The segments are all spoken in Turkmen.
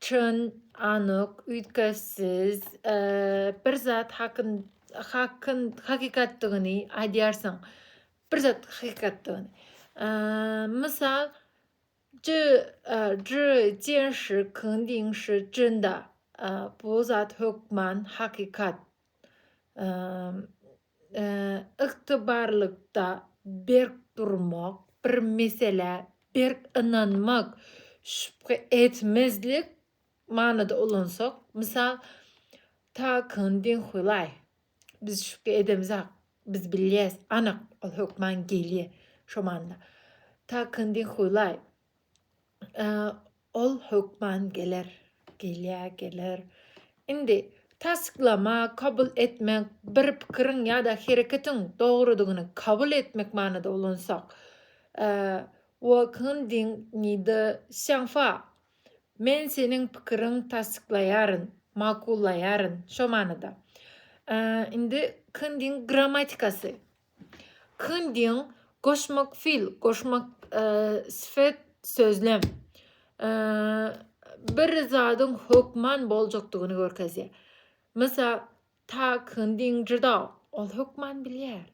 Çyn, anyk, üýtgeşsiz bir zat hakyn, hakyn, hakykatdygyny aýdýarsyň. Bir zat hakykatdygyny. Mysal, Zhi, zhi, jian shi, kyn diýiň shi, jyn da. Bu zat hökman hakykat. ygtybarlykda berk durmak, bir meselä berk ynanmak, şübhe etmezlik manyda ulansak, mysal, Takyn bin Hulaý, biz şübhe edemizak, biz bilýäs, anyk, ol hökman gelýär, şo manyda. Takyn bin Hulaý, Ol hökman geler, gelýä, geler. Indi tassyklama, kabul etmek, bir pikiriň ýa-da hereketiň dogrudygyny kabul etmek manyda ulansak, Wo kin ding ni de xiang fa, Men seniň pikiriň tassyklaýaryn, makullaýaryn, şo manyda. Indi kin ding grammatikasy, Kyndyň, goşmak fil, goşmak sifet, sözlem. Bir zadyň hökman boljakdygyny görkezýär. Mysal, ta kyndyň jydal, ol hökman bilýär.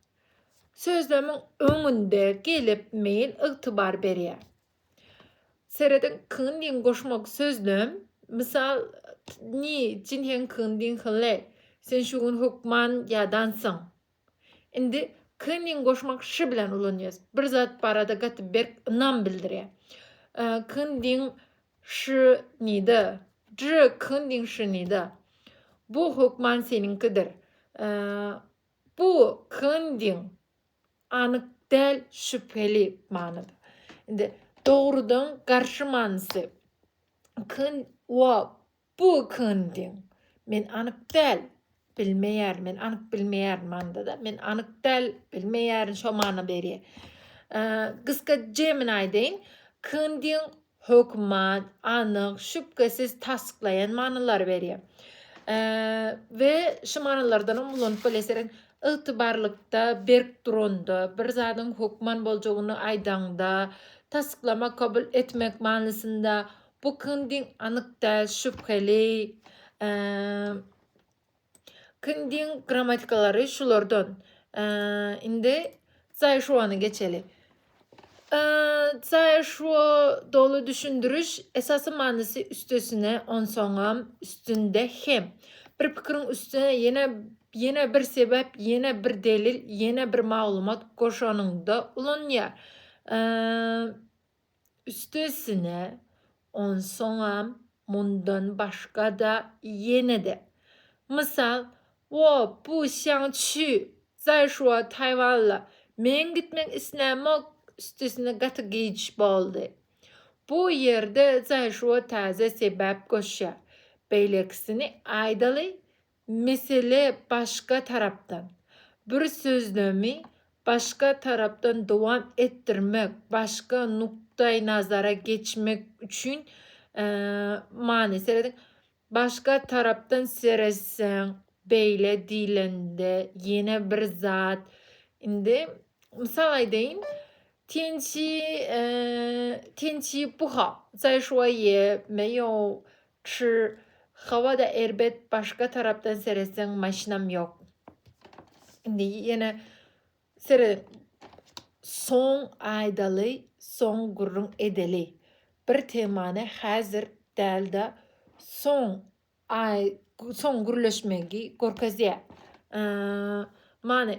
Sözlemiň öňünde gelip meýil ygtybar berýär. Serediň, kyndyň goşmak sözlem. Mysal, ni, jin heň kyndyň hylle, sen şu gün hökman ýadansyň. Indi K-nyň goşmak ş bilen ulanýarys. Bir zat barada gaty berk ynam bildirýär. K-nyň ş nida. J K-nyň ş nida. Bu hökman seniňkidir. Bu K-nyň anyk däl, şübheli manyda. Indi dogrudan garşy manysy. K wa Bu kyn diň. Men anyk däl. Bilmeýärin. Men anyk bilmeýärin manda-da. Men anyk däl, bilmeýärin şo many berýär. Gysga jemini aýdaýyn. Kyn diň hökman, anyk, şübhesiz tassyklaýan manylary berýär. We şu manylardan hem ulanyp bilesirin. Ygtybarlykda, berk duranda, bir zadyň hökman boljagyny aýdaňda, tassyklamak, kabul etmek manysynda, Bu kindiň anyk däl şübheli. Kindiň grammatikalary şulardan. Indi Zaýşuwany geçeli. Zaýşuwa doly düşündiriş, esasy manysy üstesine, onsoňam, üstünde hem. Bir pikiriň üstüne ýene ýene bir sebäp, ýene bir delil, ýene bir maglumat goşanyňda ulanýar. Üstesine, onsoňam mundan başga-da ýene-de, mysal, Wo, bu Sýan Çži, Zaýşuo Taýwanla meň gitmek islämok, üstesine gaty giç boldy. Bu ýerde Zaýşuo täze sebäp goşýar, Beýlekisini aýdaly, Mesele başga tarapdan. Bir sözlemi başga tarapdan dowam etdirmek, başga nukdaýnazara geçmek üçin many serediň. Başga tarapdan seretseň, beýle diýlende, ýene bir zat. Indi mysal aýdaýyn. Tençi, tençi buha, zaýşuaýe, meýow, Çr howada erbet başga tarapdan seretseň maşynam ýok. Indi ýene serediň. Soň aýdaly soň gürrüň edeli. Bir temany häzir dälde soň aý soň gürleşmegi görkezýä. Many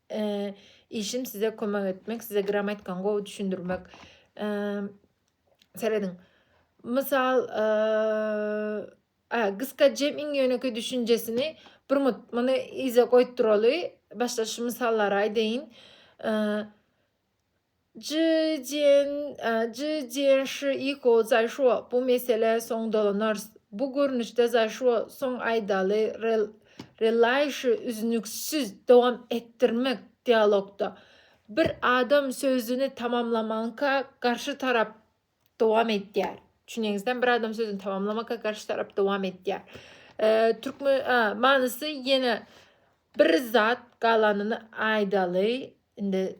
Işim size kömek etmek, size grammatikany gowy düşündirmek. Serediň. Mysal, gysga jem iň ýönekeý düşünjesini bir minut muny yza goýup duraly. Başda şu mysallary aýdaýyn. Ji Jian, Ji Jian Shi Yiko, Zaýşuo, bu meselä soň dolanarys. Bu görnüşde Zaýşuo soň aýdaly rel, relaýşy üznüksiz dowam etdirmek dialogda. Bir adam sözüni tamamlamaňka garşy tarap dowam etýär. Çüneňizden bir adam sözüni tamamlamaka garşy tarap dowam etýär. E, türkmen a, manysy ýene bir zat galanyny aýdaly. Indi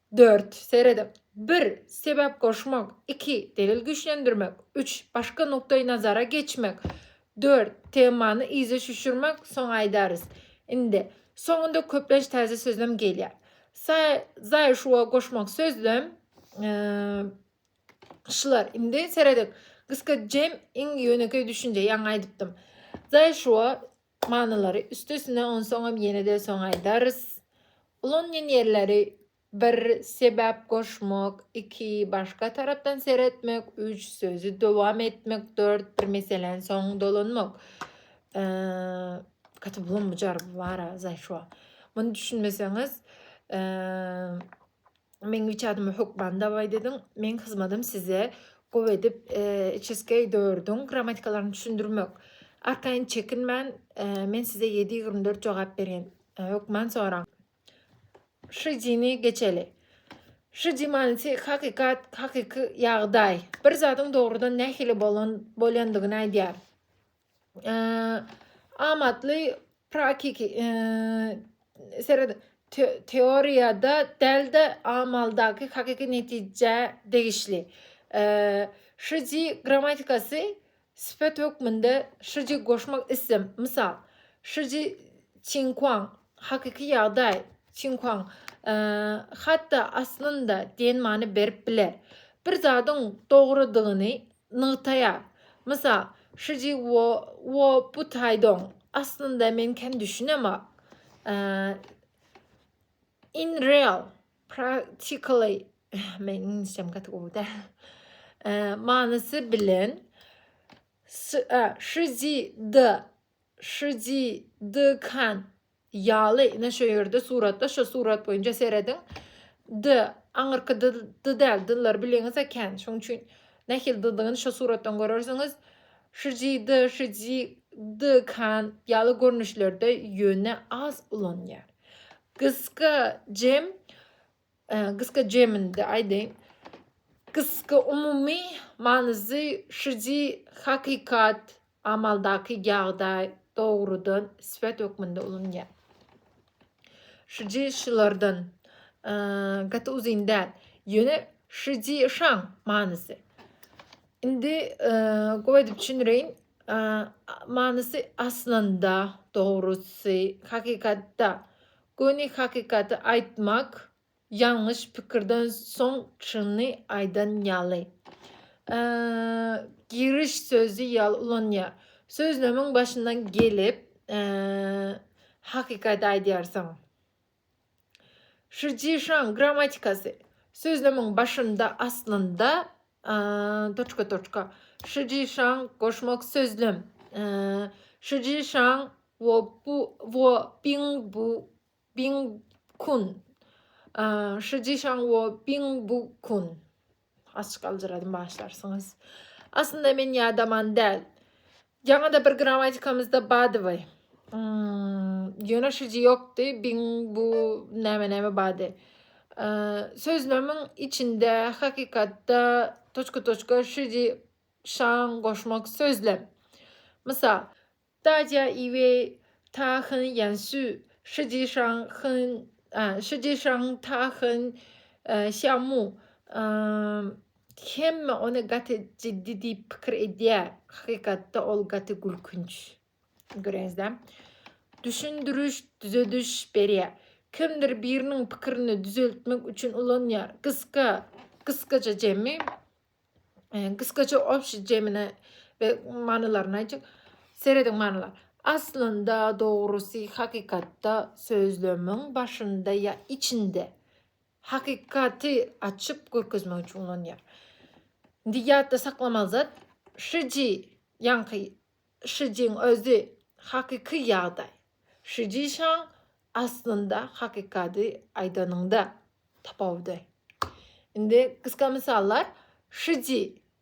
Dört, serediň. Bir, sebäp goşmak, iki, delil güýçlendirmek, üç, başga nukdaý nazara geçmek, dört, temany yza çüşürmek, soň aýdarys. Indi, soňunda köplenç täze sözlem gelýär. Sa, za, şuwa goşmak sözlem, şlar. Indi, serediň. Gysga jem, iň ýönekeý düşünje, ýaňy aýdypdym. Za, şuwa, Manylary üsti üstüne onsoňam ýenede soň aýdarys. Ulanýan ýerleri bir Sebäp goşmak iki Başga tarapdan seretmek üç Sözi dowam etmek dört Bir meseläni soň dolanmak Gaty bulam bujar bu bara zaýşwa. Muny düşünmeseňiz Meň niçe adymy hökman daway dedin. Meň hyzmadym size gowy edip içeskeý dördüň grammatikalaryny düşündirmek. Arkaýyn çekinmän, men size ýedi ýigrimi dört jogap berýän. Hökman soraň. Şyjyny geçeli. Şyjy manysy hakykat, hakyky ýagdaý. Bir zadyň dogrudan nähili bolan bolýandygyny aýdýar. amatly praktiki seret teoriýada däl-de amaldaky hakyky netijä degişli. Şiji grammatikasy sypat hökmünde şiji goşmak isem, mysal, şiji çinkuan hakyky ýagdaý çinkuan hatda aslynda diýen many berip biler. Bir zadyň dogrudygyny nygtaýar. Mysal, Şiji Wo, Wo Bu Taýdong, Aslynda men kän düşünemok. In real, practically, Meň iňlisçem gaty gowy däl. Manysy bilen, Şiji De Şydykan ýaly ine şo ýerde suratda şo surat boýunça serediň. D aňyrky dy dy däl dyllar bileňiz eken şoň üçin nähili dydygyny şo suratdan görersiňiz. Şydy şydykan ýaly görnüşlerde ýöne az ulanýar. Gysga jem Gysga jeminde aýdaýyn. Gysga umumy manysy şiji hakykat, amaldaky ýagdaý, dogrudan syfat hökmünde ulanýar. Şiji şulardan gaty uzyn däl. Ýöne şiji şaň manysy. Indi gowy edip düşündireýin. Manysy aslynda, dogrusy, hakykatda Göni hakykaty aýtmak ýalňyş pikirden soň çyny aýdan ýaly. Giriş sözi ýaly ulanýar. Sözlemiň başyndan gelip hakykaty aýdýarsyň. Şijişaň grammatikasy. Sözlemiň başynda aslynda Toçka-toçka. Şijişaň, goşmak sözlem. Şijişaň, wo bu, wo biň bu, biň kun. Şijişaň, wo biň bu kun. Açyk aljyradym, başlarsyňyz. Aslynda men ýadaman däl. Ýaňa-da bir grammatikamyzda badyby. Ýöneşiji ýokdy. Biň bu näme-näme bady. Sözlemiň içinde hakykatda toçka-toçka şiji şaň goşmak sözlem. Mysal. Daja iwe ta hyn ýan sü şiji şaň hyn şiji şaň ta hyn şamu. Hemme ony gaty jiddi diýip pikir edýär. Hakykatda ol gaty gülkünç. Göreňizdä? Düşündiriş, düzediş berýär. Kimdir biriniň pikirini düzeltmek üçin ulanýar. Gysga, gysgaça jemi, gysgaça obşi jemine we manylaryny aýtjak. Serediň manylar. Aslynda, dogrusy, hakykatda sözlemiň başynda ýa içinde Hakykaty açyp görkezmek üçin ulanýar. Indi ýatda saklamaly zat, şiji ýaňky şijiň özi hakyky ýagdaý. Şiji şaň aslynda hakykady aýdanyňda tapawudy. Indi gysga mysallar, şiji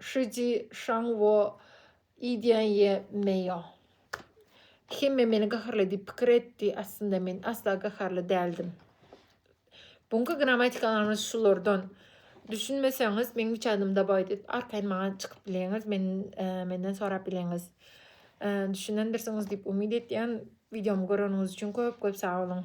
Shi ji shang wo yi diýen ye me ýo. Hemme meni gaharly diýip pikir etdi, aslynda men asla gaharly däldim. Bu günki grammatikalarymyz şulardan. Düşünmeseňiz, meň üç adymy dabaý diýip, arkaýyn maňa çykyp bileňiz, men menden sorap bileňiz. Düşünendirsiňiz diýip umyt etýän. Wideomy göreniňiz üçin köp-köp sag boluň.